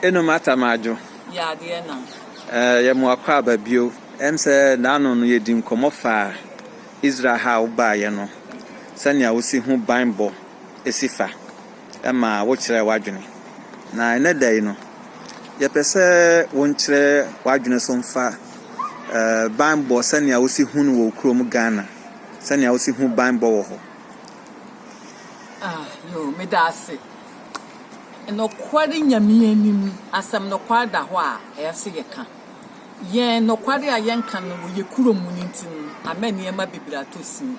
Eno mata m'adwo yɛma wakɔ aba bio. Ɛm sɛ naano no yɛdi nkɔmmɔ faa Israel ha a wobaeɛ no sɛnea wosi ho banbɔ si fa ma wokyerɛɛ w'adwene. Na ɛnɛ da yi no yɛpɛ sɛ wonkyerɛ w'adwene so mfa banbɔ sɛnea wosi hu no wɔ wo kurom Ghana, sɛnea wosi hu banbɔ wɔ hɔ. Ah, yo, meda ase. Nokware Nyame anim, asɛm nokware da hɔ a, ɛyɛ sɛ yɛka. Yɛn nokware a yɛnka no wɔ yɛn kuro mu no nti no, ama nneɛma bebree atɔ sin.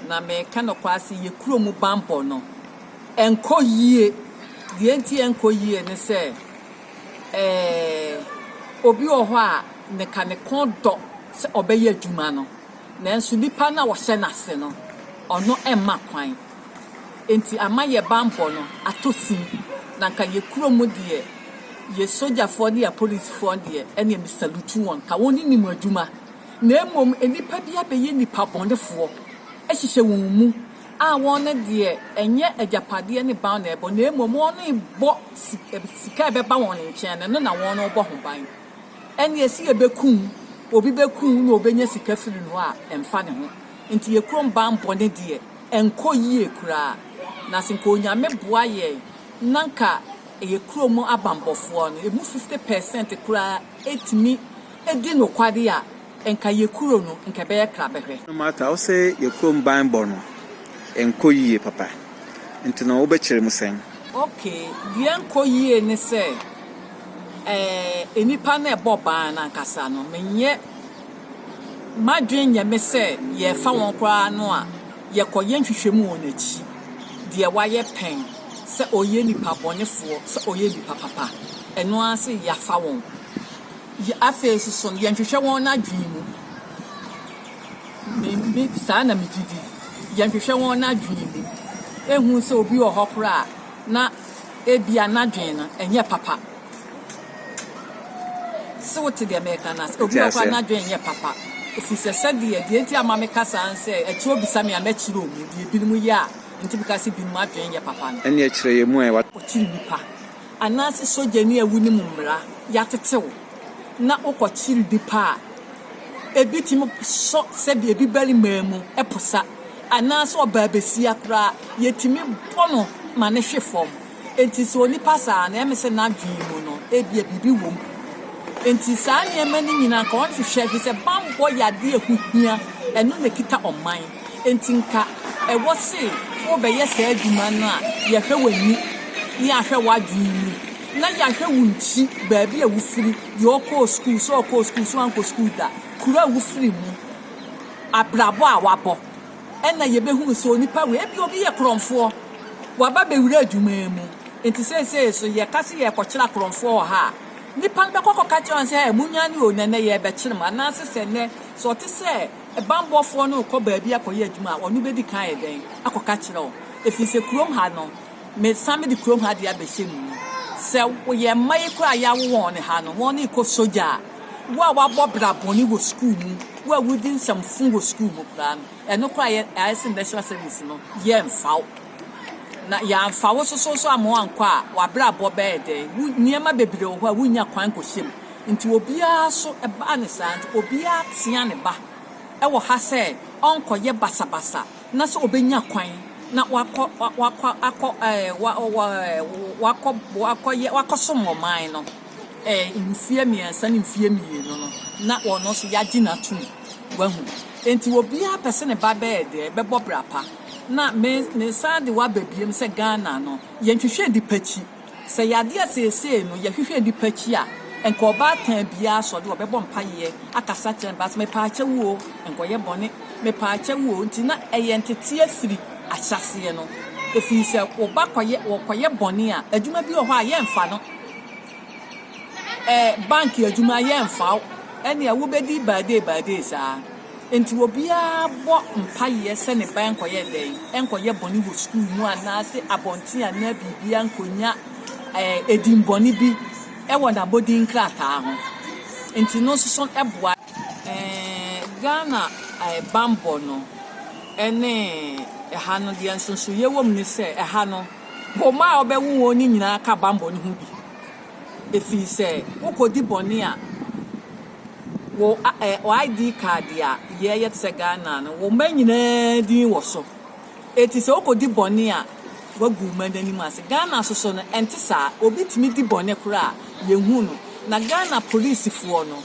Na meka nokware sɛ yɛn kuro mu bammɔ no, ɛnkɔ yie. Deɛ nti a ɛnkɔ yie ne sɛ, eh, obi wɔ hɔ a, ne ka ne kɔn dɔ sɛ ɔbɛyɛ adwuma no. Nanso nnipa no a wɔhyɛ no ase no, ɔno mma kwan. Enti ama yɛn bammɔ no atɔ sin. Na anka yɛn kurom deɛ, yɛn sogyafoɔ ne yɛn apolisifoɔ deɛ, ɛnneɛ me salute wɔn. Anka wɔn nni wɔn adwuma. Na mmom nnipa bi abɛyɛ nnipa bɔnefoɔ ahyehyɛ wɔn mu a wɔn deɛ, ɛnyɛ agyapadeɛ ne ban na ɛrebɔ, na mmom wɔrebɔ sika a ɛbɛba wɔn nkyɛn no, ɛno na wɔrebɔ ho ban. Ɛne ɛse yɛbɛku wo, obi bɛku wo na ɔbɛnya sika firi no a, ɛmfa ne ho. Nti yɛ kurom ban bɔne deɛ, ɛnkɔ yie koraa. Na se nka Onyame boa yɛn na nka yɛ kurom abanbɔfoɔ no, ɛmu 50 percent koraa tumi di nokware a, Nka yɛ kuro no nka ɛbɛyɛ krabɛhwɛ. No matter wo se yɛ kurom ban bɔ no nkɔ yie papa nti no wo bɛ kyere mu sɛn. Ok deɛ nkɔ yie ne sɛ ɛɛ nipa no ɛbɔ ban no ankasa no me nyɛ madwen nyɛ me sɛ yɛ fa wɔn koraa no a yɛ kɔ yɛ nhwehwɛ mu wɔn akyi deɛ wayɛ pɛn sɛ ɔyɛ nipa bɔne foɔ sɛ ɔyɛ nipa papa ɛno ara se yɛ afa wɔn. Yɛ afei nso so no, yɛnhwehwɛ wɔn adwene mu. Me, me, saa na megye di. Yɛnhwehwɛ wɔn adwene mu. Ehu sɛ obi wɔ hɔ koraa a, na ebia n'adwene no ɛnyɛ papa. Sɛ wote deɛ mɛka no ase, obi wɔ hɔ koraa n'adwene ɛnyɛ papa. Ɛfiri sɛ sɛdeɛ, deɛ nti ama meka saa ne sɛ, ɛkyerɛ obisa me a, mɛkyerɛ wɔn deɛ ebinom yɛ a, nti meka sɛ ebinom adwene nyɛ papa no. Ɛnneɛ kyerɛ yɛn mu a. Ɔkyere nnipa. Anaase sogyani a wunim mmara yɛatete wo na wokɔkyere bi pɛ a, ebi tumi sɔ sɛdeɛ ebi barimaa mu posa anaase ɔbaa basia koraa yɛtumi bɔ no ma no hwe fam. Enti sɛ onipa saa no, ɛme sɛ n'adwene mu no ebia biribi wɔ mu. Enti saa nneɛma no nyinaa anka ɔnhwehwɛ, efisɛ bammɔ yɛ adeɛ a ɛho hia, ɛno na ɛkita ɔman. Enti nka ɛwɔ se wobɛyɛ saa adwuma no a yɛahwɛ w'ani ne yɛahwɛ w'adwene mu na yɛahwɛ wo nkyi, baabi a wofiri, deɛ ɔkɔɔ sukuu, sɛ ɔkɔɔ sukuu, sɛ wankɔ sukuu da, kuro a wofiri mu, abrabɔ a wabɔ. Ɛna yɛbɛhunu sɛ onipa wei, ebia obi yɛ korɔmfoɔ, waba bɛwura adwuma yi mu. Enti seesei nso yɛka se yɛrekɔkyere akorɔmfoɔ wɔ ha a, nnipa no bɛkɔ akɔka akyerɛ wɔn sɛ, Ɛ, monnwane o, nnɛ nnɛ yɛrebɛkyere mo. Anaase sɛ nnɛ, sɛ ɔte sɛ. Bammɔfoɔ no rekɔ baabi akɔyɛ adwuma a, ɔno bɛdi kan ayɛ dɛn? Akɔka akyerɛ wo. Ɛfiri sɛ kurom ha no, mesan mede kurom ha deɛ abɛhyɛ mu. Sɛ yɛn mma yi koraa a yɛawo wɔn ha no, wɔn rekɔ sogya a, wo a woabɔ bra bɔne wɔ sukuu mu, wo a wodi nsɛm fo wɔ sukuu mu koraa no, ɛno koraa yɛ, ayɛ sɛ national service no, yɛmfa wo. Na yɛamfa wo nso so a ma woankɔ a, w'abrabɔ bɛyɛ dɛn? Wo, nneɛma bebree wɔ hɔ a wonnya kwan nkɔhyɛ mu. Nti obiara so ɛbaa no saa nti obiara tea ne ba wɔ ha sɛ ɔnkɔyɛ basabasa na sɛ ɔbɛnya kwan na wakɔ wakɔ akɔ wakɔ wakɔyɛ wakɔsom wɔ man no mfeɛ mmiɛnsa ne mfeɛ mmienu no na wɔn nso yɛagye n'atum wahu nti obiara pɛ sɛ ne ba bɛyɛ deɛ bɛbɔ brapa na me ne san de waba biem sɛ Ghana no yɛnhwehwɛ nipa akyi Sɛ yade a seesei no yɛhwehwɛ bi pa akyi a, nka ɔbaatan biara sɔ de ɔbɛbɔ mpayeɛ akasa akyerɛ ne ba sɛ, Mepaakyɛ wo o, nkɔyɛ bɔne, mepaakyɛ wo o, nti na ɛyɛ nteteɛ firi ahyɛaseɛ no, ɛfiri sɛ wo ba kɔyɛ ɔkɔyɛ bɔne a, adwuma bi wɔ hɔ a yɛmfa no, ɛ, bank adwuma yɛmfa wo, ɛnneɛ wobɛdi baadee baadee saa. Enti obiara bɔ mpaeɛ sɛ ne ba nkɔyɛ dɛn? Nkɔyɛ bɔne wɔ sukuu mu anaase abɔnten anaa biribiara nkɔnya eh, dimmɔne bi wɔ n'abɔdin nkrataa ho. Enti no nso so boa. Eh, Ghana eh, bammɔ no ne ɛha no, deɛ nsonsonoeɛ wɔ mu ne sɛ ɛha no, wo mma a wobɛwo wɔn no nyinaa ka bammɔ no ho bi. Ɛfiri sɛ wokɔdi bɔne a, wo ID card a yɛyɛ te sɛ Ghana no, wo mma nyinaa din wɔ so. Eti sɛ wokɔdi bɔne a, woagu mma no anim ase. Ghana so so no, ɛnte saa. Obi tumi di bɔne koraa a, yɛnhu no. Na Ghana polisifoɔ no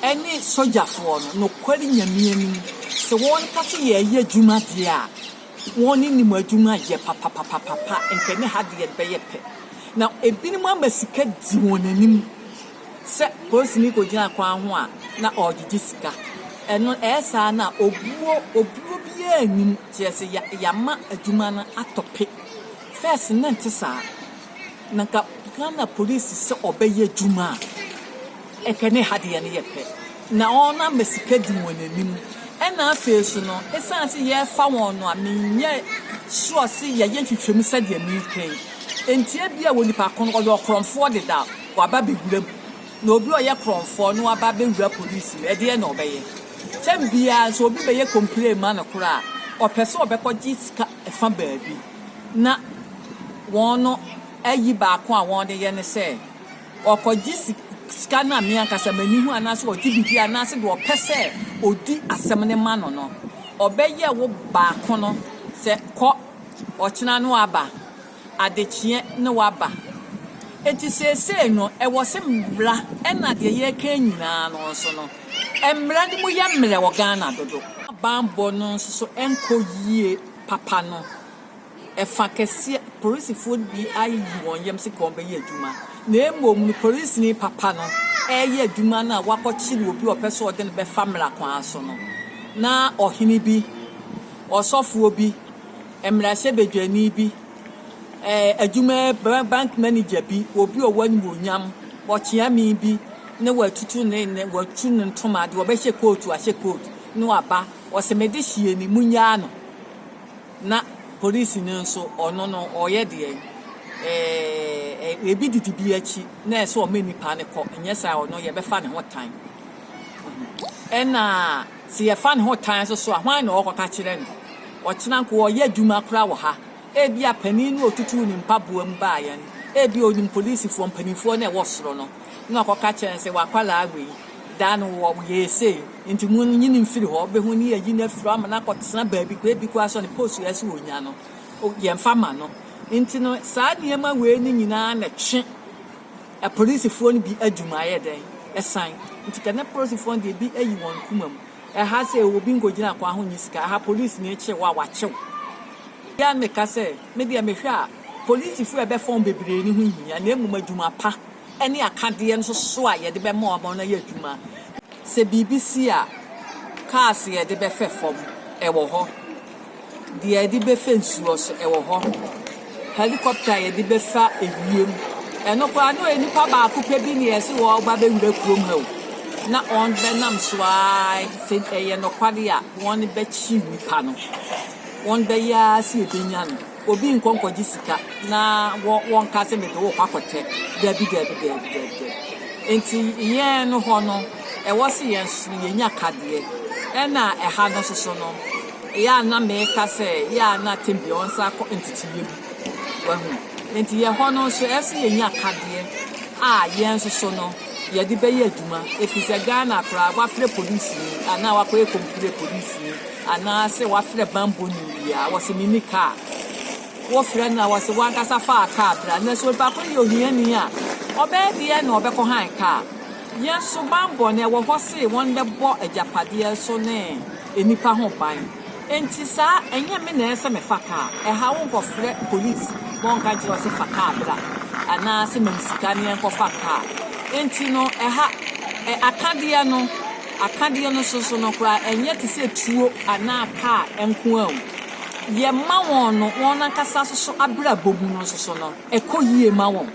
ne sogyafoɔ no, nokware Nyame anim, sɛ wɔka sɛ yɛreyɛ adwuma deɛ a, wɔnim adwuma yɛ papapapapa. Nka ɛne ha deɛ bɛyɛ pɛ. Na ebinom ama sika di wɔn anim. Sɛ polisini kogyina kwan ho a na ɔregyegye sika. Ɛno ɛyɛ saa no a obuo obuo biara nni mu kyerɛ sɛ ya yɛama adwuma no atɔ pe. First no na ɛnte saa. Na nka Ghana polisi sɛ ɔbɛyɛ adwuma a ɛka ne ha deɛ no yɛ pɛ. Na wɔn ama sika di wɔn anim. Ɛna afei nso no ɛsiane sɛ yɛrefa wɔn no a menyɛ sure sɛ yɛyɛ nhwehwɛmu sɛdeɛ mereka yi. Nti ebia wɔ nipa ko no ɔyɛ ɔkorɔmfoɔ dedaw. Waba bɛwura mu. Na obi a ɔyɛ korɔmfoɔ no aba abɛwura polisi mu. Ɛdeɛn na ɔbɛyɛ? Tɛm biara nso obi bɛyɛ complain ma no koraa a, ɔpɛ sɛ ɔbɛkɔgye sika fa baabi. Na wɔn no ayi baako a wɔde yɛ ne sɛ, ɔkɔgye sika no a me ankasa m'ani hu anaasɛ ɔgye biribi anaasɛ deɛ ɔpɛ sɛ ɔdi asɛm no ma no no, ɔbɛyɛ wo baako no sɛ kɔ, ɔkyena no aba. adekyeɛ ne waba. Enti seesei no, ɛwɔ se mmra na deɛ yɛreka yi nyinaa no nso no, mmra no mu yɛ mmerɛ wɔ Ghana dodo. Bammɔ no nso nkɔ yie papa no, ɛfa kɛseɛ, polisifoɔ no bi ayiyi wɔn yam se kɔn bɛyɛ adwuma, na mmom no polisini papa no reyɛ adwuma no a wakɔkyere obi a ɔpɛ sɛ ɔde no bɛfa mmara kwan so no, na ɔhene bi, ɔsɔfoɔ bi, mmarahyɛbadwani bi, adwuma bank manager bi, obi a ɔwɔ animuonyam, ɔkyeame bi na watutu ne ne watu ne ntoma de ɔbɛhyɛ kootu ahyɛ kootu na waba ɔsɛ mede hyia ni munyaa no na polisi no nso ɔno no ɔyɛ deɛ ɛɛ ebi didi bi akyi na ɛsɛ ɔmɛ nipa no kɔ nyɛ saa ɔno yɛbɛfa ne ho tan ɛna Sɛ yɛfa ne ho tan nso so a, hwan na ɔrekɔka kyerɛ no? Ɔkyena nko, ɔreyɛ adwuma koraa wɔ ha. Ebia panin no a otutuu ne mpaboa mu baa yɛn no, ebia onim polisifoɔ mpanimfoɔ no a ɛwɔ soro no, na wakɔka kyerɛ no sɛ, W'akwadaa wei, da no wɔ yɛɛ sei, enti monyi no mfiri hɔ. Wobɛhu ne yɛayi no afiri hɔ ama no akɔtena baabi koraa, ebi koraa sɛ ɔne post a ɛsɛ ɔnya no, yɛmfa mma no. Enti no, saa nneɛma wei no nyinaa na ɛtwe. Apolisifoɔ no bi adwuma ayɛ dɛn ɛsan nti kɛ nɛ polisifoɔ no deɛ bi ayi wɔn kuma mu ɛha sɛ obi nkɔgyina kwan ho nyɛ sika ɛha polisini kye wo a wakye wo bia meka sɛ me deɛ mehwɛ a polisifoɔ a ɛbɛfa wɔn bebree no ho nhia na mmom adwuma pa ɛne akadeɛ nso so a yɛde bɛma wɔn wɔn ayɛ adwuma sɛ biribi si a cars yɛde bɛfɛ fam ɛwɔ hɔ. Deɛ yɛde bɛfa nsuo so, ɛwɔ hɔ. Helicopter a yɛde bɛfa ewiem, ɛno koraa na ɔyɛ nipa baako pɛ bi na yɛsi wɔ ɔba bɛwura kurom ha o. Na wɔn bɛnam so ara sɛ ɛyɛ nɔkwade a wɔn bɛkyi nipa no. Wɔn bɛyɛ ara sɛ yɛbɛnya no. Obi nkɔ nkɔgye sika na wɔ wɔn ka sɛ mede wo kɔ akɔtɛ. Dabi dabi dabi dabi dabi. Nti yɛn no hɔ no, ɛwɔ sɛ yɛn so yɛnya kadeɛ. Ɛna ɛha no soso no. Yɛ a na meka sɛ yɛ a na tebea ɔnsan akɔ nteteyɛ mu. Wahu? Enti yɛ hɔ no nso ɛsɛ sɛ yɛnya akadeɛ a yɛn nso so no yɛde bɛyɛ adwuma ɛfiri sɛ Ghana koraa wafrɛ polisini anaa wakɔyɛ kɔmputerɛ polisini anaa sɛ wafrɛ banbɔni biaa wɔse menni kaa wo frɛ no a wɔse wankasa faa kaa bra nanso onipa ko no yɛ ohiani a ɔbɛyɛ deɛ na ɔbɛkɔ han kaa yɛn nso banbɔ no ɛwɔ hɔ se wɔn bɛbɔ agyapadeɛ so ne nnipa ho ban. Enti saa ɛnyɛ me na ɛsɛ me fa kaa, ɛha wo nkɔ frɛ police ma ɔnka nkyerɛ wo sɛ fa kaa bra anaa sɛ ma me sika ne yɛnkɔ fa kaa. Enti no ɛha ɛ akadeɛ no akadeɛ no soso no koraa ɛnyɛ te sɛ tuo anaa kaa nko ara o, yɛ ma wɔn no wɔn ankasa soso abrabɔ mu no soso no ɛkɔ yie ma wɔn.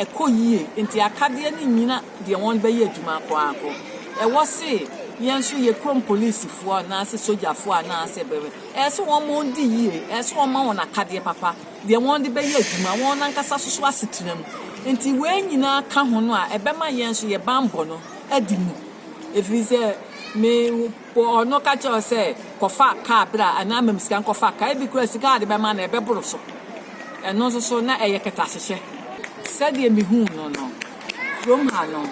ɛkɔ yie nti akadeɛ no nnyina deɛ wɔn bɛyɛ adwuma akɔ ara kɔ. Ɛwɔ se yɛn nso yɛ kurom polisifoɔ anaase sogyafoɔ anaase bɛn, ɛyɛ se wɔn wɔn di yie, ɛyɛ se wɔn ma wɔn akadeɛ papa, deɛ wɔn de bɛyɛ adwuma, wɔn ankasa nso so asetena mu. Nti wei nyinaa ka ho no a ɛbɛma yɛn nso yɛ banbɔ no adi mu. Ɛfiri sɛ me. Bɔ ɔno ka kyerɛ wo sɛ kɔfa kaa bra anaa ma me sika nkɔfa kaa. Ebi koraa sika a wɔde bɛma no ɛbɛboro so. Ɛno nso so na ɛyɛ kɛtɛahyehyɛ. Sɛdeɛ mehuu no no, kurom ha no,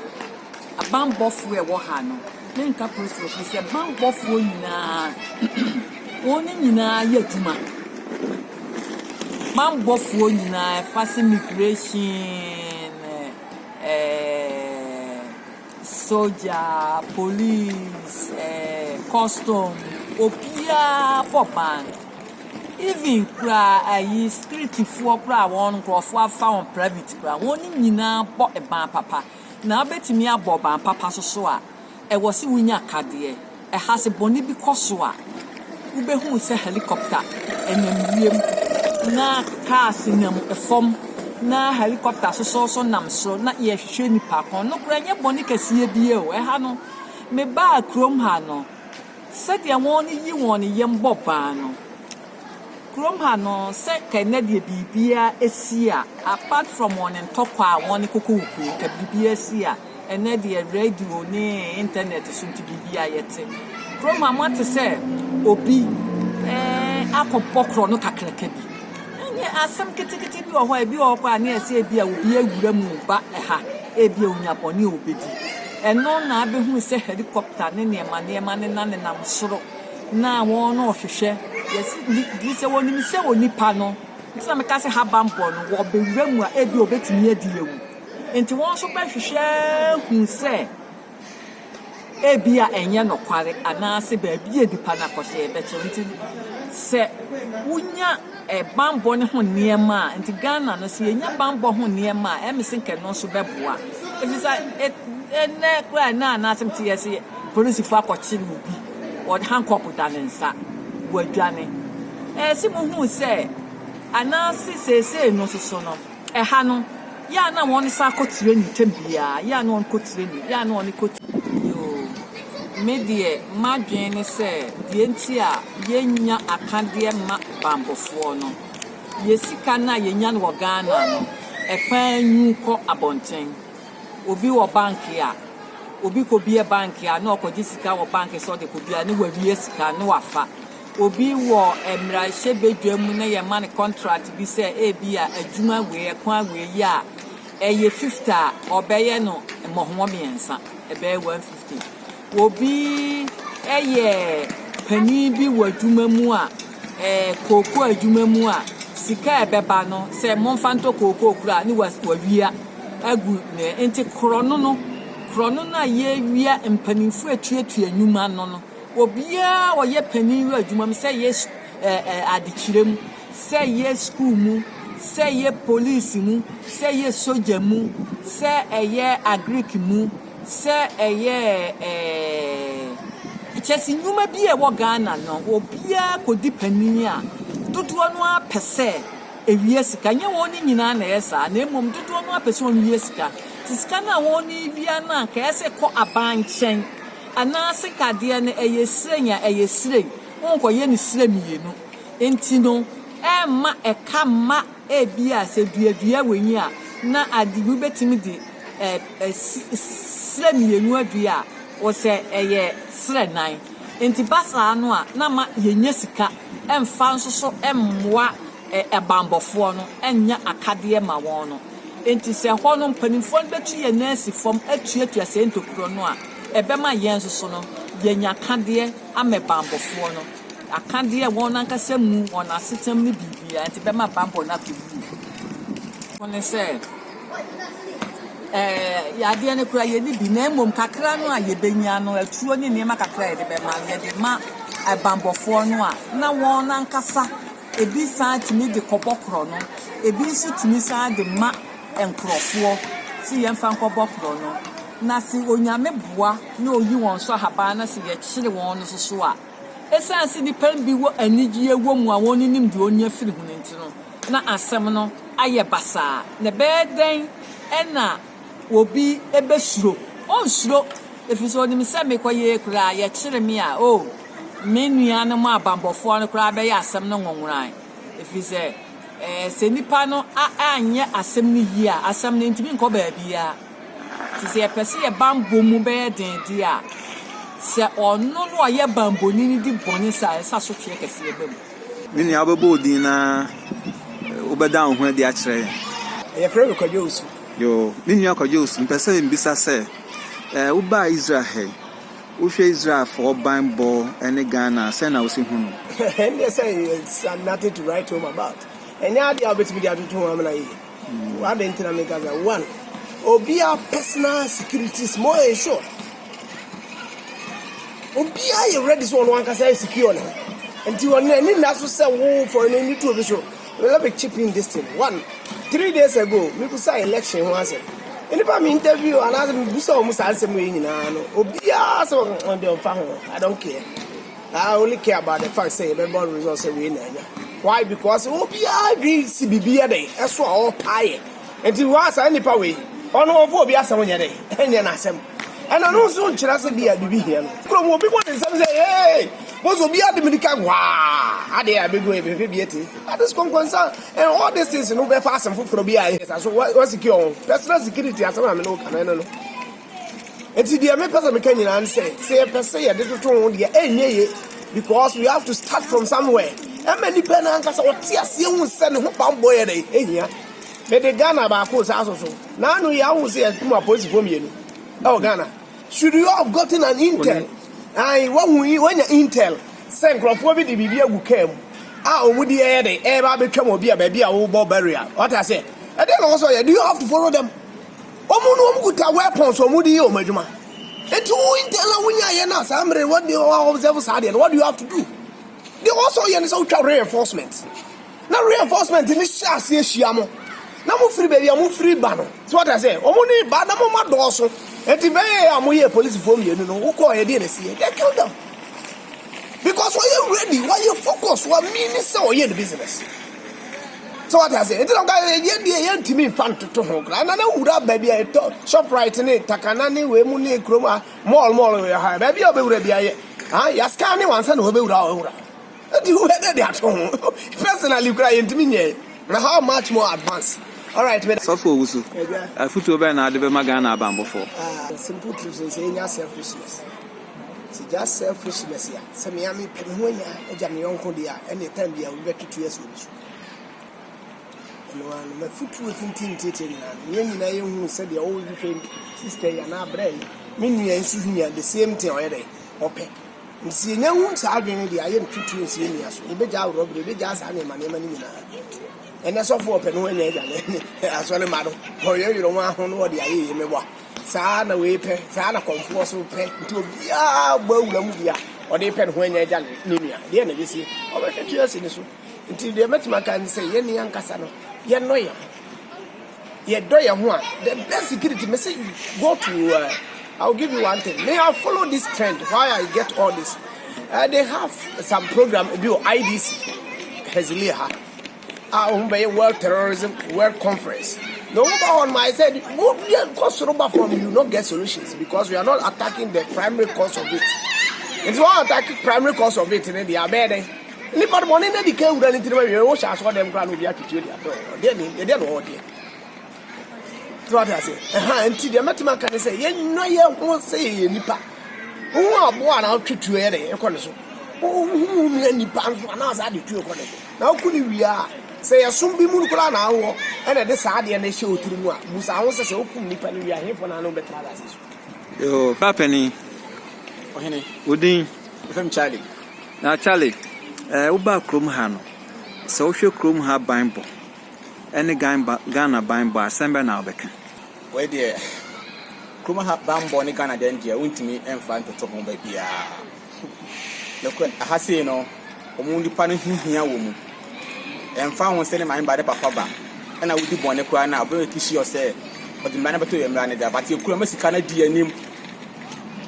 abanbɔfoɔ a ɛwɔ ha no, menka Policefoɔ mpo sɛ banbɔfoɔ nyinaa, wɔn nyinaa yɛ adwuma. Banbɔfoɔ nyinaa, ɛfa sɛ migration, ɛɛ. Sogya, police, ɛɛ custom, obiara bɔ ban. Even koraa ayi streetfoɔ koraa a wɔn nkurɔfoɔ afa wɔn private koraa, wɔn nyinaa bɔ ban papa. Na wobɛtumi abɔ ban papa nso so a, ɛwɔ sɛ wonya akadeɛ. Ɛha sɛ bɔne bi kɔ so a, wobɛhunu sɛ helicopter nam wiem na cars nam fam na helicopter soso so nam soro na yɛrehwehwɛ nnipa kɔn. Nokorɛ ɛnyɛ bɔne kɛseɛ bie o. Ɛha no, mebaa kurom ha no, sɛdeɛ wɔn yi wɔn yam bɔ ban no, Kurom ha no sɛ kɛ nɛ deɛ biribiaa ɛsi a apart from wɔn ntɔkwa a wɔn koko wo kuro kɛ biribiaa si a ɛnɛ deɛ radio ne internet so nti biribiaa yɛte kurom ha moate sɛ obi eh akɔ bɔ korɔ no kakraka bi ɛnyɛ asɛm ketekete ebi wɔ hɔ a ebi wɔ hɔ koraa ne ɛsɛ ebi a obi awura mu ba ɛha ebi a onya bɔne a obedi ɛno na abɛhunu sɛ helicopter ne nneɛma nneɛma nenanenam soro na wɔn no hwehwɛ yes di sɛ wɔn nim sɛ onipa no nti na meka sɛ haban bɔ no wɔ bɛwura mu a ebi obetumi adi yɛ mu nti wɔn nso bɛhwehwɛ hu sɛ ebi a ɛnyɛ nokware anaasɛ baabi yɛ nipa no akɔhyɛ ɛbɛkyɛ nti sɛ wonya ɛbanbɔ no ho nneɛma a nti ghana no sɛ yɛnya banbɔ ho nneɛma a ɛmese nkɛ no nso bɛboa ɛfiri sɛ ɛnɛ koraa ɛnɛ anaasɛm te yɛ se polisifo akɔkye no obi wɔde hankɔp da ne nsa, wadwane. Ɛyɛ se muhuu sɛ, anaase seesei no soso no, ɛha no, yɛ a na wɔn sa kɔ tireni tɛm biara, yɛ a na wɔn kɔ tireni, yɛ a na wɔn kɔ tireni. Yoo, me deɛ m'adwene ne sɛ deɛ nti a yɛnnya akadeɛ mma banbofoɔ no, yɛ sika no a yɛnya no wɔ Ghana no, ɛfaa nyu kɔ abɔnten. Obi wɔ bank a, obi kɔ bie bank a ne ɔkɔgye sika wɔ bank sɛ ɔde kɔ bia ne wawie sika ne wafa. Obi wɔ mmarahyɛ badwa mu na yɛma no contract bi sɛ ebi a adwuma wei ɛkwan wei yɛ a ɛyɛ 50 a ɔbɛyɛ no mmɔhoɔ mmiɛnsa ɛbɛyɛ 150. Obi yɛ panin bi wɔ adwuma mu a, ɛɛ kooko adwuma mu a, sika a ɛbɛba no, sɛ momfa ntɔ kooko koro a, ne wawia agu ne. Nti korɔnono, korɔnono a yɛawia mpanimfoɔ atuatua nnwuma no no, obiara a ɔyɛ panin wɔ adwuma mu, sɛ yɛ ɛɛ adekyerɛ mu, sɛ yɛ sukuu mu, sɛ yɛ polisi mu, sɛ yɛ sogya mu, sɛ ɛyɛ agric mu, sɛ ɛyɛ ɛɛ kyɛse nnwuma bi a ɛwɔ Ghana no obiara kɔdi panin a, dodoɔ no ara pɛ sɛ ɛwia sika. Ɛnyɛ wɔn nyinaa na ɛyɛ saa, na mmom dodoɔ no ara pɛ sɛ wɔwia sika. Nti sika no a wɔrewia no anka ɛyɛ sɛ kɔ aban nkyɛn, anaase kadeɛ no ɛyɛ srɛnn a, ɛyɛ srɛnn, wonkɔyɛ no srɛ mmienu. Nti no, ɛmma ɛka mma. Ebia sɛ dua dua w'ani a, na ade bi wubetumi de srɛ mmienu adua a, wɔsɛ ɛyɛ srɛ nan. Enti ba saa no a, na ma yennya sika mfa nsosɔ mmoa bammɔfoɔ no nyɛ akadeɛ mma wɔn no. Enti sɛ hɔ no mpanimfoɔ no bɛtu yɛn nan asi fam atuatua saa ntokuro no a, ɛbɛma yɛn nso so no, yɛanya akadeɛ ama bammɔfoɔ no. Akadeɛ, wɔn ankasa mu, wɔn asetam ne biribiara nti bɛma banbɔ no akɔ yie. Fo ne sɛ, ɛɛ yadeɛ no koraa yɛni bi, na mmom kakra no a yɛbɛnya no, atuo ne nneɛma kakra a yɛde bɛma no, yɛde ma banbɔfoɔ no a, na wɔn ankasa ebi san tumi de kɔbɔ korɔ no, ebi nso tumi san de ma nkorɔfoɔ sɛ yɛmfa nkɔbɔ korɔ no. Na se Onyame boa na ɔyi wɔn so ahaban na sɛ yɛkyere wɔn no nso so a, Esiane sɛ nnipa no bi wɔ anigye wɔ mu a wonnim deɛ ɔnni afiri ho no nti no, na asɛm no ayɛ basaa. Na ɛbɛyɛ dɛn na obi bɛsuro? Ɔrensuro, ɛfiri sɛ ɔnim sɛ mekɔyɛɛ koraa a, yɛkyere me a, o, me nuanom abanbɔfoɔ no koraa bɛyɛ asɛm no nwonworan. Ɛfiri sɛ, sɛ nnipa no anyɛ asɛm no yie a, asɛm no ntumi nkɔ baabiara. Nti sɛ yɛpɛ sɛ yɛn bammɔ mu bɛyɛ den de a, sɛ ɔno na ɔyɛ bammɔni no di bɔne saa a, ɛsɛ sɛ asotweɛ kɛseɛ ba mu. Me nua, wobɛbɔ wo din na wobɛda wo ho adi akyerɛ yɛn? Yɛfrɛ me Kwadwo Owusu. Yoo, me nua Kwadwo Owusu, mepɛ sɛ mebisa sɛ, eh, wobaa Israel ha yi, wohwɛ Israelfoɔ bammɔ ne Ghana a, sɛn na wosi hu no? Ɛnneɛ sɛ it's nothing to write home about. Ɛnyɛ adeɛ a wobɛtumi de atoto ho amena yie. Adɛn nti na meka sɛ one obiara personal security is more ensured obiara yɛ ready sɛ ɔno ankasa yɛ secure ne nti ɔno ani nna so sɛ wo fɔre no ani tuo bi so let me chip in this thing one three days ago mebusa election ho asɛm nnipa me interview anaasɛ mebusa wɔn saa nsɛm yi nyinaa no obiara sɛ ɔde ɔmfa ho i don't care I only care about the fact sɛ yɛbɛbɔ result sɛ wei na anya why because obiara adwene si biribi yɛ dɛn ɛso a ɔɔpa ayɛ nti hɔ a saa nipa wei ɔno ɔmfa obi asɛm nyɛ dɛn ɛnyɛ n'asɛm ɛna no nso nkyerɛ sɛ bi a biribi hia no kurom obi bɔ ne nsɛm sɛ ee bɔs obi ade mirika waa adeɛ a bɛgu ɛbɛhwɛ bi ati that is concern and all these things no bɛfa asɛm foforɔ bi a ɛsa so wasecure ho personal security asɛm a mene wo ka no ɛno no Enti deɛ mepɛ sɛ meka nyinaa ne sɛ, sɛ yɛpɛ sɛ yɛde toto ho deɛ ɛnyɛ ye because we have to start from somewhere. Ɛma nipa no ankasa ɔte aseɛ hu sɛ ne ho bammɔ yɛ dɛn ɛhia. Mede Ghana baako saa so so. Na ano yi ahu sɛ yɛkum apolisifoɔ mmienu ɛwɔ Ghana. Should you have gotten an intel? Ae, wahu yi, wanya intel sɛ nkurɔfoɔ bi de biribi agu kaa mu a wɔn di ɛyɛ dɛn ɛreba abɛtwam obi a baabi a wobɔ barrier. Wate aseɛ? Ɛdeɛ na wɔsɔ yɛ. Do you have to follow them? Wɔn no wɔn kuta weapons wɔn de yɛ wɔn adwuma nti wo intel a wonya yɛ no a saa mmere what do you observe saa deɛ no what do you have to do deɛ wɔn sɛ ɔyɛ no sɛ wotwa reinforcement na reinforcement ne hyɛ aseɛ hyia mo na mo firi baabi a mo firi ba no so what I say wɔn ne ba na mo ma dɔɔso nti bɛyɛ a mo yɛ polisifoɔ mmienu no wokɔ yɛ deɛ na ɛsi yɛ they kill them. because ɔyɛ ready ɔyɛ focus wa mean sɛ ɔyɛ ne business sɛ wate ase ɛti na ɔka yɛ deɛ yɛntumi mfa ntoto ho koraa na na wura baabi a ɛtɔ shoprite ne takana ne wei mu ne kurom a mall mall yɛ ha baabi a ɔbɛwura bi ayɛ ha yɛasika ne wansa na ɔbɛwura a ɔwura ɛti hu ɛdɛ de ato ho personally koraa yɛntumi nyɛ na how much more advance alright sɔfo owusu afutuo bɛn na ade bɛma ghana abanbɔfoɔ ah, simple truth sɛ ɛnya selfishness Sɛ just selfishness a, sɛ mea me pɛ me ho anya agya me yɔnko deɛ a, ɛnna time bi a obi bɛto tuo asi obi so. Ɛno ara no, mafutuo tintin ntiatia nyinaa no, yɛn nyinaa yɛhunu sɛdeɛ ɔrehwehwɛ sister yi anaa brɛ yi, me nua yi nso hwehwɛ the same thing ɔyɛ dɛ, ɔpɛ. Nti sɛ yɛnya hu saa adwene no deɛ a, yɛnto tuo nsi yɛn nua so, yɛbɛgyaa worɔberɛ, yɛbɛgyaa saa nneɛma nneɛma no nyinaa. Ɛnɛ sɔfo ɔpɛ no anya agya ne asɔre ma no ɔyɛ yoro ho aho no ɔde ayɛ yie meboa saa na wei pɛ saa na kɔmfoɔ so pɛ nti obiara bɔ awura mu bi a ɔde pɛ ne ho anya agya ne nua deɛ na ɛbɛsie ɔbɛhwɛ twe asi ne so nti deɛ mɛtumi aka ne sɛ yɛne ankasa no yɛnɔ yɛn ho yɛdɔ yɛn ho a the best security me say go to uh, I'll give you one thing may I follow this trend why I get all this uh, they have some program bi wɔ IDC Hezliah a wɔbɛyɛ world terrorism world conference na wɔn ba hɔ nom ayɛ sɛ mo bia nkɔ soro ba fam you no get solutions because we are not attacking the primary cause of it nti wɔn attack primary cause of it ne deɛ abɛɛ dɛn nipa no bɔne na di ka awura ne tirim awie wɔhyɛ asoɔ dɛm koraa na obi atwitwe deɛ abɛɛ ɔdeɛ ne ɛdeɛ na ɔwɔ deɛ So wate ase? Ɛha nti deɛ mɛtumi aka ne sɛ yɛnwa yɛ ho sɛ yɛyɛ nnipa. Wohu aboa anaa wotwe tuo yɛ dɛ ɛkɔ ne so. Wohu nua nnipa nso anaa saa de tuo kɔ ne so. Na woku ne wie a sɛ yɛsom bi mu koraa na awɔ ɛna ɛde saa adeɛ no hyɛ wo tiri mu a busa ho sɛ sɛ wokum nnipa no wie a hefoɔ na ano bɛtra asase so. Yoo, papanin. Ɔhene. Wodin. Ɛfam Charlie. Na Charlie, eh, wobaa kurom ha no, sɛ wohwɛ kurom ha ban bɔ. ne Ghana banbɔ a, asɛm bɛn na wobɛka? Wei deɛ, kurom ha banbɔ ne Ghana dɛm deɛ, wontumi mfa ntoto ho baabiara. Nokorɛ, aha sei no, wɔn nipa no ho hia wɔ mu. Ɛmfa ho sɛ ne maame ba ne papa ba, ɛna wodi bɔne koraa no a, ɔbɛ make sure sɛ ɔde mmara no bɛto yɛn mmara no da. But yɛn kurom ha, sika no adi yɛn anim.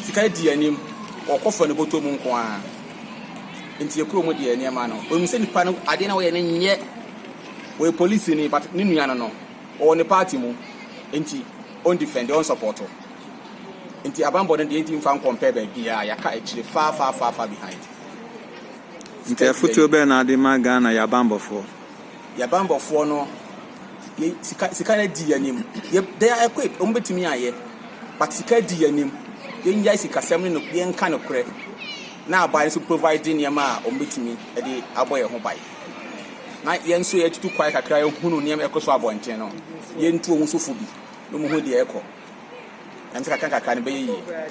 Sika adi yɛn anim. Wɔkɔ fa ne bɔtɔ mu nko ara. Nti yɛn kurom deɛ, nneɛma no, wɔnim sɛ nipa no adeɛ no a wɔyɛ no nyɛ. Ɔyɛ polisini but ne nua no no ɔwɔ ne party mu nti ɔn defend ɔn support nti abanbɔ no deɛ nti nfa nkɔ mpɛ baabiaa yɛaka akyire far far far far behind. Nti afotuo bɛn na wode ma Ghana yɛ abanbɔfoɔ? Yɛ abanbɔfoɔ no yɛ sika sika no adi yɛ anim yɛ they are equipped ɔmo bɛtumi ayɛ but sika adi yɛ anim yɛnyae sikasɛm ne no yɛnka nokorɛ na aban nso provide nneɛma a ɔmo bɛtumi de abɔ yɛn ho ban. na yɛn nso yɛatutu kwae kakra yɛhunu nneɛma ɛkɔ so abɔnten no, yɛntu wɔn so fo bi na wɔn ho deɛ ɛkɔ. Ɛnam sɛ kakra kakra no bɛyɛ yie.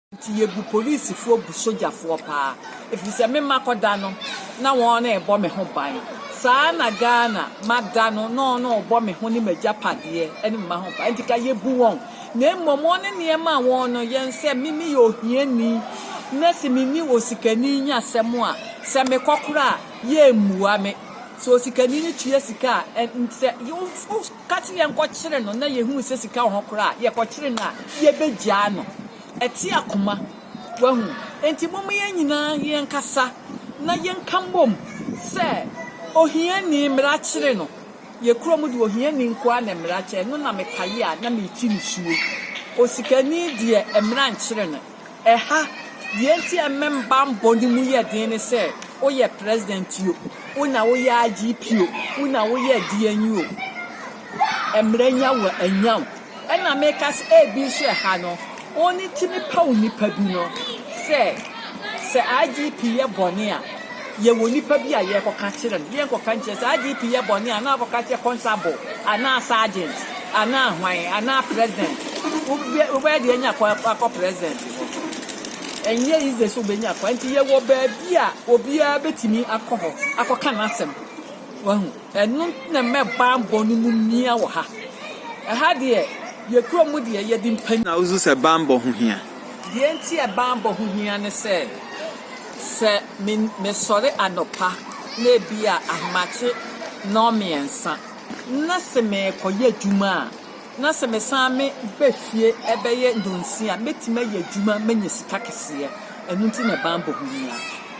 Nti yɛbu polisifoɔ bu sogyafoɔ paa ɛfiri sɛ me mma kɔda no na wɔn rebɔ me ho ban saa ara na Ghana ma da no na wɔn rebɔ me ho ne m'agyapadeɛ ne me mma ho ban nti ka yɛbu wɔn na mmom wɔn ne nneɛma a wɔn no yɛn sɛ me meyɛ ohiani na se menni osikani nya asɛm a sɛ mekɔkora a yɛmmua me sɛ osikani no tua sika a sɛ Ka se yɛnkɔkyere no na yɛhunu sɛ sika wɔ hɔ koraa a, yɛkɔkyere no a, yɛbɛgyaa no. Ɛte akoma. Wahu? Enti momma yɛn nyinaa yɛnkasa na yɛnka mmom sɛ, Ohiani, mmara kyere no. Yɛn kurom deɛ, ohiani nko ara na mmara kyere. Ɛno na mekae a na mereti nisuo. Osikani deɛ, mmara nkyere no. Ɛha, deɛ enti a mmɛmbammɔ no mu yɛ den ne sɛ, woyɛ president o, wo na woyɛ IGP o, wo na woyɛ deɛn yi o, mmara nya wo anya wo. Ɛna meka sɛ ebi nso ɛha no, wɔtumi paw nnipa bi no sɛ, sɛ IGP yɛ bɔne a, Yɛwɔ nnipa bi a yɛkɔka kyerɛ no, yɛnkɔka nkyerɛ sɛ IGP yɛ bɔne anaa akɔka kyerɛ Constable anaa Sergeant anaa hwan anaa President. Wobɛ wobɛyɛ deɛ anya kwan akɔ President hɔ. Ɛnyɛ easy sɛ wobɛnya kwan nti yɛwɔ baabi a obiara bɛtumi akɔ hɔ akɔka n'asɛm. Wahu? Ɛno nti na mɛ bammɔ no mu mia wɔ ha. Ɛha deɛ yɛ kurom mu deɛ yɛde mpanyin. Na wosu sɛ bammɔ ho hia? Deɛ nti a bammɔ ho hia ne sɛ. Sɛ mesɔre anɔpa na ebia ahomakye nnɔnmiɛnsa na se merekɔyɛ adwuma a, na sɛ mesan meba fie bɛyɛ nnɔnsia a, mɛtumi ayɛ adwuma manya sika kɛseɛ. Ɛno nti na banbɔ ho hia.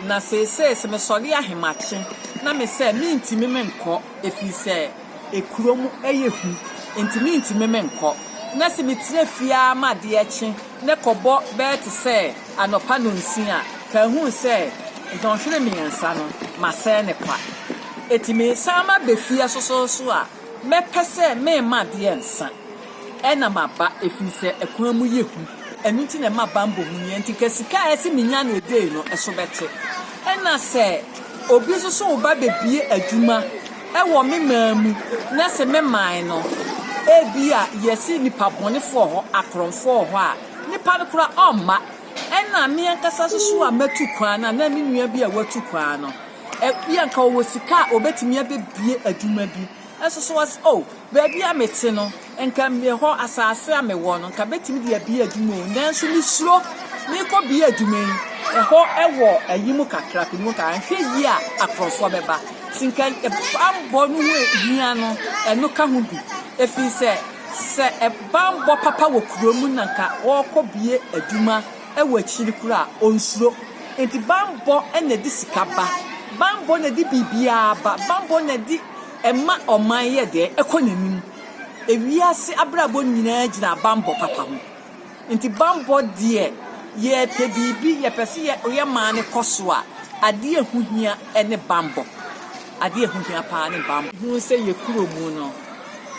Na seesei sɛ mesɔre ahemakye na me sɛ mentumi menkɔ ɛfiri sɛ ɛkurom yɛ hu nti mentumi menkɔ. Na sɛ metina fie ara ma adeɛ kye Ne kɔbɔ bɛyɛ te sɛ anɔpa nnɔnsia a, ka ehu sɛ nnɔnhwere mmiɛnsa no, masɛe no kwa. Enti meresan maba fie sosɔɔ so a, mɛpɛ sɛ merema adeɛ nsa. Ɛna maba, ɛfiri sɛ ɛkwan mu yɛ hu. Ɛno nti na ɛma bammɔ hu nie. Enti ka sika a ɛse menya no edei no, ɛso bɛte. Ɛna sɛ obi nso so reba abɛbue adwuma. Wɔ me man mu, na se me man no, ebia yɛse nnipa bɔnefo wɔ hɔ, akorɔmfoɔ wɔ hɔ a, nnipa no koraa ɔmma. Ɛna me ankasa nso so a matu kwan no, anaa me nua bi a watu kwan no, ebia nka ɔwɔ sika a obetumi abebue adwuma bi, nso so ɔse, Oh, Baabi a mete no, anka mewɔ asase a mewɔ no, anka mɛtumi de abue adwuma o, nanso mesuro merekɔbue adwuma yi, ɛhɔ wɔ ayi mu kakra, pene mu kakra, nhwɛ yie a akorɔmfoɔ bɛba, nti nka bammɔ no ho hia no, ɛno ka ho bi, ɛfiri sɛ, sɛ bammɔ papa wɔ kuro mu na anka ɔrekɔbue adwuma wɔ akyiri koraa a, ɔnsuro. Nti bammɔ na ɛde sika ba, bammɔ na ɛde biribiara ba, bammɔ na ɛde. Ɛma ɔman yɛ dɛn? Ɛkɔ n'anim. Wiase abrabɔ nyinaa gyina bammɔ papa ho. Nti bammɔ deɛ, yɛpɛ biribi, yɛpɛ sɛ yɛn man no kɔ so a, adeɛ a ɛho hia ne bammɔ. Adeɛ a ɛho hia pa ara ne bammɔ. Hu sɛ yɛn kurom no,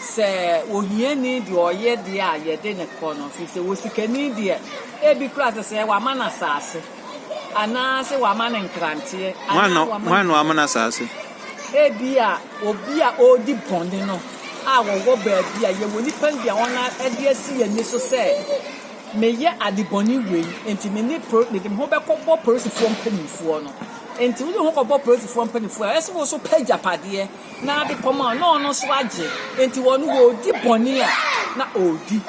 sɛ ohiani deɛ ɔyɛ deɛ a, yɛde no kɔ no, ɛfiri sɛ osikani deɛ, ebi koraa sɛ sɛ wɔama no asaase, anaasɛ wɔama no nkranteɛ, anaa wɔama no. Hwan na wama no asaase? Ebia obi a ɔredi bɔne no a ɔwɔ baabi a yɛwɔ nnipa no bi a wɔde asi yɛn ani so sɛ meyɛ adebɔne wei nti me ne pro mede me ho bɛkɔbɔ polisifoɔ mpanimfoɔ no nti wode ho kɔbɔ polisifoɔ mpanimfoɔ a ɛsɛ wo so pɛ agyapadeɛ na ade kɔma na ɔno nso agye nti wɔn wɔredi bɔne a na ɔredi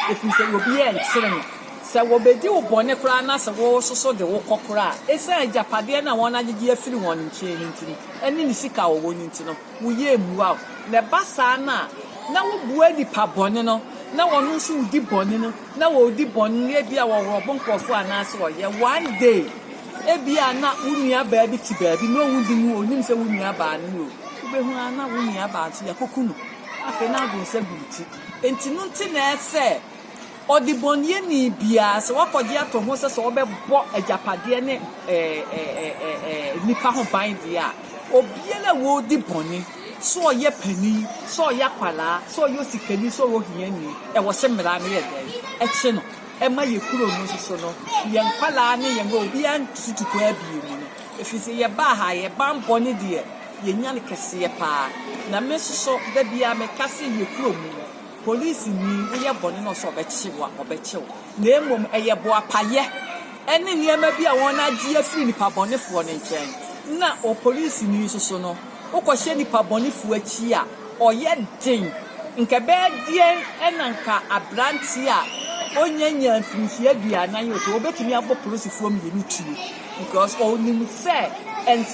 ɛfiri sɛ obi yɛ nkyere no Sɛ wɔbɛdi wo bɔne koraa na sɛ wososo de wo kɔ koraa a, ɛsiane agyapadeɛ no a wɔagyegye afiri wɔn nkyɛn no nti no, ɛne ne sika a wɔwɔ no nti no, wo yea mmua wo. Na ɛba saa no a, na wobua nipa bɔne no, na ɔno nso ɔdi bɔne no, na ɔredi bɔne no, ebia ɔworɔ bo nkorɔfoɔ anaasɛ ɔyɛ. One day, ebia na wo nuabaa bi te baabi, na ɔwɔ din o, ɔnim sɛ wo nuabaa no ni o, wobɛhunu ara na wo nuabaa nso, yɛakɔku no. Afei n'adwene nsa gu wo ti. Enti no nti na ɛsɛ sɛ. Ɔdebɔneyɛni biara, sɛ wakɔgye ato ho sɛ sɛ ɔbɛbɔ agyapadeɛ ne nnipa ho ban deɛ a, obiara a ɔredi bɔne, sɛ ɔyɛ panin, sɛ ɔyɛ akwadaa, sɛ ɔyɛ osikani, sɛ ɔyɛ ohiani, ɛwɔ sɛ mmara no yɛ dɛn? Ɛkye no. Ɛma yɛn kuro no nso so no, yɛn nkwadaa ne yɛn obiara ntu tukuu abien mu no, ɛfiri sɛ yɛbaa ha, yɛn banbɔne deɛ, yɛnya no kɛseɛ pa ara. Na me nso so, da biara meka sɛ yɛn kuro mu no, Polisini, woyɛ bɔne na ɔsɛ sɛ ɔbɛkye wo a, ɔbɛkyɛ wo. Na mmom ɛyɛ boapayɛ ne nneɛma bi a wɔagye afiri nnipabɔnefoɔ no nkyɛn. Na opolisini nso so no, wokɔhyɛ nnipabɔnefoɔ akyi a, ɔyɛ den. Nka ɛbɛyɛ deɛn na nka aberanteɛ a ɔnyanya mfirinhyia aduanan yi, nka ɔbɛtumi abɔ polisifoɔ mmienu tuo, because ɔnim sɛ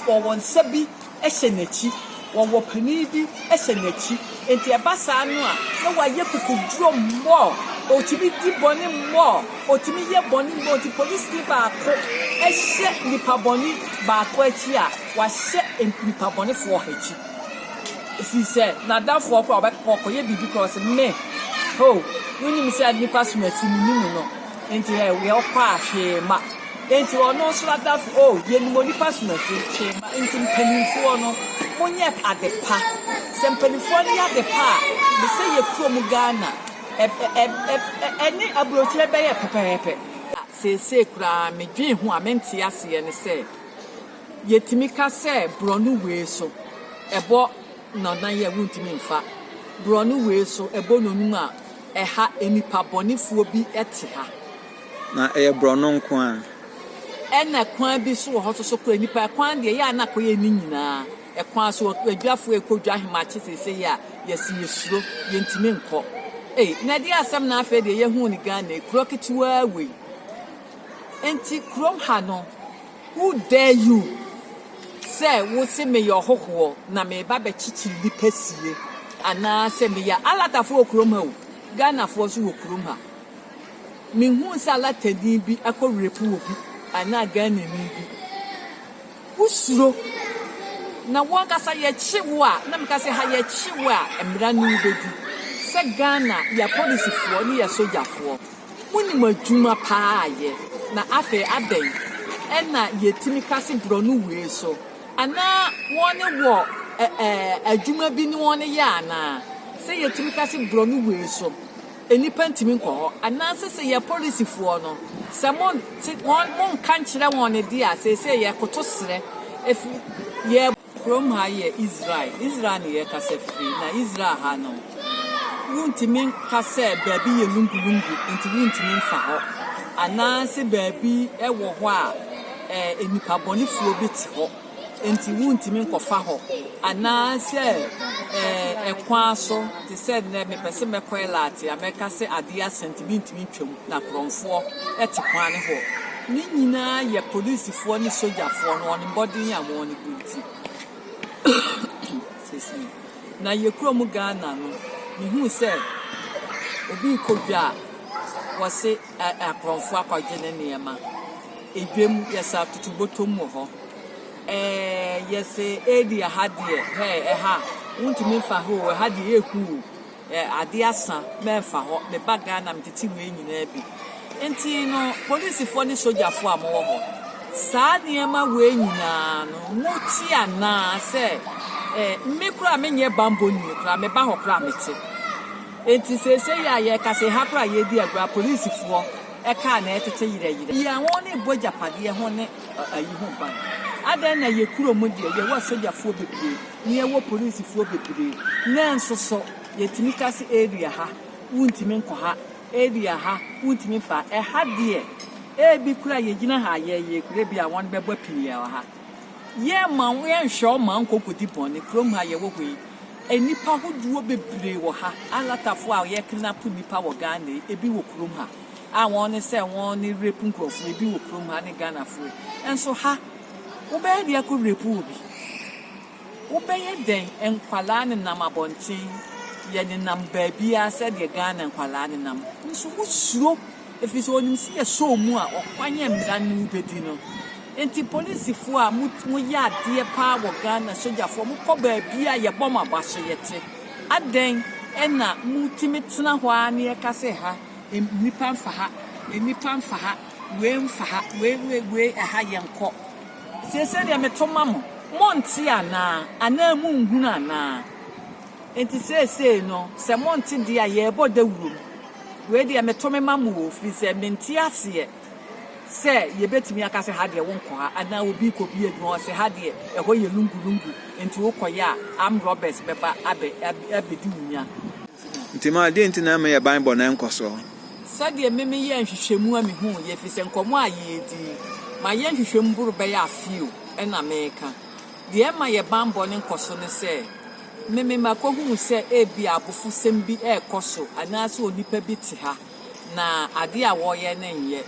ɔwɔ nsa bi. hyɛ n'akyi, wɔwɔ panin bi hyɛ n'akyi. Enti ɛba saa no a, na wayɛ kukuduro more, ɔtumi di bɔne more, ɔtumi yɛ bɔne more. Nti polisini baako hyɛ nipa bɔne baako akyi a, wahyɛ nipa bɔnefoɔ akyi. Ɛfiri sɛ n'adamfoɔ koraa ɔkɔyɛ biribi koraa ɔse me, oh, wonim sɛ nipa som akyi menim no. Enti ɛ, wia ɔkɔ a, hwee mma. Enti ɔno nso adafo, o, yenim onipa som afiri, hwee mma. Enti mpanimfoɔ no, monyɛ ade pa. Sɛ mpanimfoɔ no yɛ ade pa a, me sɛ yɛ kurom Ghana, ɛ, ɛ, ɛ, ɛ, ɛne aburokyire bɛyɛ pɛpɛɛpɛ. Na seesei koraa me dwen ho a me nte aseɛ ne sɛ, yɛtumi ka sɛ borɔno wei so, ɛbɔ. na na yɛ wontumi mfa borɔno wei so bɔ nonum a ɛha nnipa bɔnefoɔ bi te ha. Na ɛyɛ borɔno nko ara. Ɛna kwan bi so wɔ hɔ so so kora nnipa kwan deɛ yɛ a na kɔyɛ ne nyinaa ɛkwan so adwafoɔ ɛkɔ dwa ahemakye sese yɛ a yɛsi yɛsuro yɛntumi nkɔ ei na ɛde asɛm na afei deɛ yɛhuu ne Ghana kuro ketewaa wei nti kurom ha no Who dare you sɛ wo se meyɛ ɔhohoɔ na mereba bɛkyekye nnipa sie anaasɛ meyɛ Alatafoɔ wɔ kurom ha o, Ghanafoɔ nso wɔ kurom ha. Menhuu sɛ Alatani bi akɔ rape obi anaa Ghanani bi. Wosuro na wo ankasa yɛkye wo a na meka sɛ ha yɛkye wo a mmara ne wobɛdi sɛ Ghana yɛ apolisifoɔ ne yɛ sogyafoɔ. Munim adwuma paa a yɛ. Na afei adɛn na yɛtumi ka se brɔno wei so anaa wɔne wɔ adwuma bi ne wɔne yɛ anaa? Sɛ yɛtumi ka se brɔno wei so nnipa ntumi nkɔ hɔ anaa se sɛ yɛ polisifoɔ no sɛ mo nte wɔn mo nka nkyerɛ wɔn deɛ a seesei yɛkoto serɛ ɛfiri yɛ Kurom ha yɛ Israel. Israel ne yɛ kasa firi, na Israel ha no, wontumi nka sɛ baabi yɛ lungu-lungu nti wontumi mfa hɔ, anaase baabi wɔ hɔ a ɛɛ nnipa bɔnefoɔ bi te hɔ nti wontumi nkɔfa hɔ, anaasɛ ɛɛ ɛkwan so te sɛ nnɛ mepɛ se mɛkɔ Elat a mɛka se adeɛ asa nti mentumi ntwam. Na korɔnfoɔ te kwane hɔ. Ne nyinaa yɛ polisifoɔ ne sogyafoɔ no wɔn mmɔden a wɔn gu nti. Excuse me. Na yɛ kurom Ghana no, mehuu sɛ obi rekɔ dwa a, wɔse ɛ ɛ akorɔnfoɔ akɔgye ne nneɛma. Edwam yɛsɛ atoto bɔtɔm wɔ hɔ. Ɛɛ yɛsɛ edi ɛha deɛ, hɛɛ ɛha, wontumi mfa ha o, ɛha deɛ ɛyɛ hu o. eh, ade asa, mɛmfa hɔ, meba Ghana, metete wei nyinaa bi. Nti no, polisifoɔ ne sogyafoɔ a mowɔ hɔ, saa nneɛma wei nyinaa no, mote anaa sɛ eh, me koraa menyɛ bambɔ nwie koraa, meba hɔ koraa mete. Nti seesei a yɛka sɛ ha koraa yɛdi agorɔ, polisifoɔ ɛkaa na ɛtete yerɛyerɛ. Yɛn wɔn ne bɔ gyapadeɛ ho ne ayi ho ban. Adɛn na yɛ kuro mu deɛ yɛwɔ sogyafoɔ bebree. na yɛwɔ polisifo bebree. Nanso so yɛtumi ka sɛ, 'Area ha, wontumi nkɔ ha. Area ha, wontumi mfa ha. Ɛha deɛ, ebi koraa yɛgyina ha a, yɛyɛ kuro bi a wɔbɛbɔ pii wɔ ha. Yɛremma wɔn, yɛrenhwɛ wɔn mma wɔnkɔ nkɔdi bɔne. Kurom ha a yɛwɔ hɔ yi, nnipa ahodoɔ bebree wɔ ha. Alatafoɔ a wɔkidnapo nnipa wɔ Ghana yi, ebi wɔ kurom ha a wɔne sɛ wɔne rape nkurɔfoɔ. Ebi wɔ kurom ha ne Ghanafoɔ yi. Nanso ha, Wobɛyɛ deɛ ko repu wo bi. Wobɛyɛ dɛn nkwadaa nenam abɔnten yɛ nenam baabiara sɛdeɛ Ghana nkwadaa nenam nso wosuro ɛfiri sɛ wɔnim sɛ yɛsɔ wɔn mu a ɔkwan a mmara no wobɛdi no nti polisifoɔ a mo moyɛ adeɛ paa wɔ Ghana sogyafoɔ mokɔ baabiara yɛbɔ mo aba so yɛte adɛn ɛna motumi tena hɔ ara ne ɛka sɛ ha nnipa mfa ha nnipa mfa ha Wei mfa ha, wei, wei, wei, ɛha yɛnkɔ. Seesei deɛ meto ma mo, monte anaa? Anaa monhunu anaa? Enti seesei no, sɛ monte deɛ a, yɛrebɔ dawuro mu. Wei deɛ meto me ma mo o, firi sɛ mente aseɛ sɛ yɛbɛtumi aka sɛ ha deɛ wonkɔ ha, anaa obi rekɔbie adwuma hɔ sɛ ha deɛ ɛhɔ yɛ lungu-lungu, enti wokɔyɛ a armed robbers bɛba abɛ, abɛ, abɛdi wo nya. Nti ma, deɛ nti na ɛmma yɛn banbɔ no nkɔ soɔ? Sɛdeɛ me meyɛɛ nhwehwɛmu a mehuuɛ, ɛfiri sɛ nkɔmmɔ a yɛdii, mayɛ nhwehwɛmu boro bɛyɛ afe o, ɛna mereka. Deɛ ɛma yɛ banbɔ no nkɔso ne sɛ, me me makɔhunu sɛ ebia abofosɛm bi rekɔ so anaasɛ onipa bi te ha na adeɛ a wɔreyɛ no nyɛ.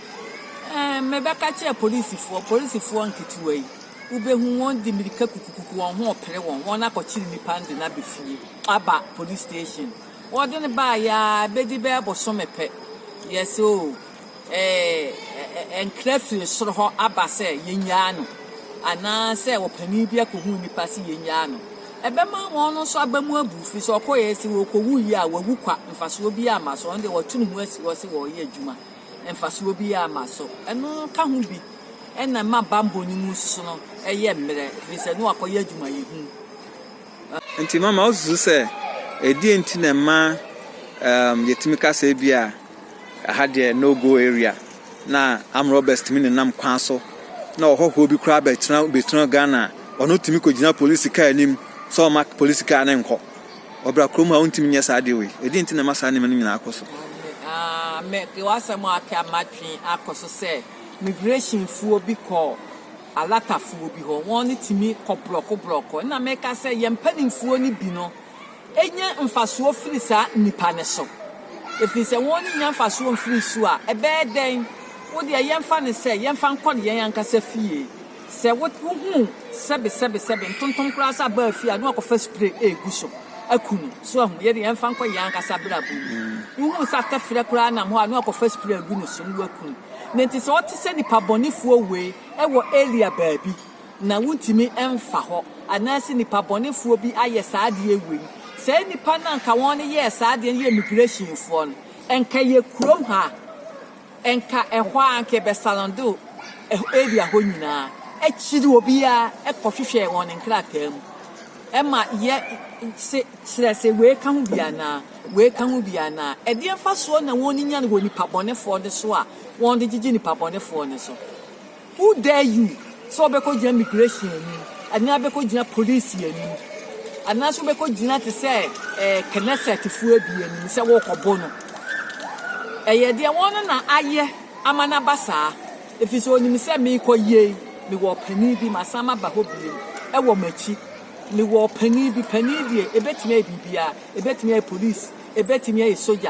Ɛɛ, mebɛka kyerɛɛ polisifoɔ, polisifoɔ nketewa yi, wobɛhu wɔn de mmirika kukukuku wɔn ho repere wɔn, wɔakɔkyere nnipa no de no aba fie, aba police station. Wɔde no baeɛ ara bɛdi bɛyɛ bosome pɛ, yes oo, ɛɛ, nkra firi soro hɔ aba sɛ yɛnnyaa no, anaasɛ ɔpanin bi akɔhu nnipa sɛ yɛnnyaa no. Ɛbɛma wɔn nso aba mu abu firi sɛ ɔkɔeɛ sɛ ɔkɔwu yie a wawu kwa, mfasoɔ biara mma so, ɔno deɛ wɔato ne ho asi hɔ sɛ ɔreyɛ adwuma, mfasoɔ biara mma so. Ɛno ka ho bi na ɛma bammɔ no mu nso no yɛ mmerɛ, ɛfiri sɛ na wakɔyɛ adwumayɛhu. Enti mama woasusu sɛ, ɛdeɛn nti na ɛma um yɛtumi ka sɛ ebia ɛha deɛ no go area na armed robbers tumi nenam kwan so na ɔhɔhoɔ bi koraa bɛtena bɛtena Ghana a ɔno tumi kɔgyina polisi kaa anim sɛ ɔma polisi kaa no nkɔ ɔbra kurom a wontumi nyɛ saa deɛ wei ɛdeɛn nti na ɛma saa nneɛma no nyinaa kɔ so Ah, me, w'asɛm a aka matwe akɔ so sɛ migrationfoɔ bi kɔɔ Alatafoɔ bi hɔ, wɔn tumi kɔ brɔko brɔko, ɛna meka sɛ yɛn mpaninfoɔ no bi no nya mfasoɔ firi saa nnipa no so, ɛfiri sɛ wɔn nnya mfasoɔ mfiri so a, ɛbɛyɛ dɛn? Wo deɛ yɛmfa no sɛ, yɛmfa nkɔ yɛn ankasa fie, sɛ wo wohu sɛbe sɛbe sɛbe ntontom koraa sɛ abaa fie a, na wakɔfa spray ɛregu so aku no, so ahu, yɛde yɛmfa nkɔ yɛn ankasa abrabɔ mu, wohu sɛ atɛferɛ koraa nam hɔ a, na wakɔfa spray agu ne so na waku no. na enti sɛ ɔte sɛ nnipa bɔnefoɔ wue wɔ area baabi na wontumi mfa hɔ anaase nnipa bɔnefoɔ bi ayɛ saa adeɛ wei, saa nnipa no a nka wɔn yɛɛ saa adeɛ no yɛ immigration foɔ no, nka yɛ kurom ha a, nka ɛhɔ ara nka yɛbɛsarando area hɔ nyinaa, akyiri obiara kɔhwehwɛ wɔn nkrataa mu. Ɛma yɛ se kyerɛ se wei ka ho bi anaa? Wei ka ho bi anaa? Ɛdeɛ mfasoɔ na wɔn nya no wɔ nipa bɔnefoɔ no so a wɔn de gyegye nipa bɔnefoɔ no so? Who dare you sɛ wobɛkɔ gyina migration anim anaa bɛkɔ gyina police anim anaa so bɛkɔ gyina te sɛ eh, Knesset foɔ bi anim sɛ wɔkɔbo no? Ɛyɛ deɛ wɔn na ayɛ ama no aba saa. Efisɛ onim sɛ merekɔ yei, mewɔ ɔpanin bi, masan maba hɔ bio, ɛwɔ m'akyi. Mewɔ ɔpanin bi, panin deɛ, ɛbɛtumi ayɛ biribiara, ɛbɛtumi ayɛ polisi, ɛbɛtumi ayɛ sogya,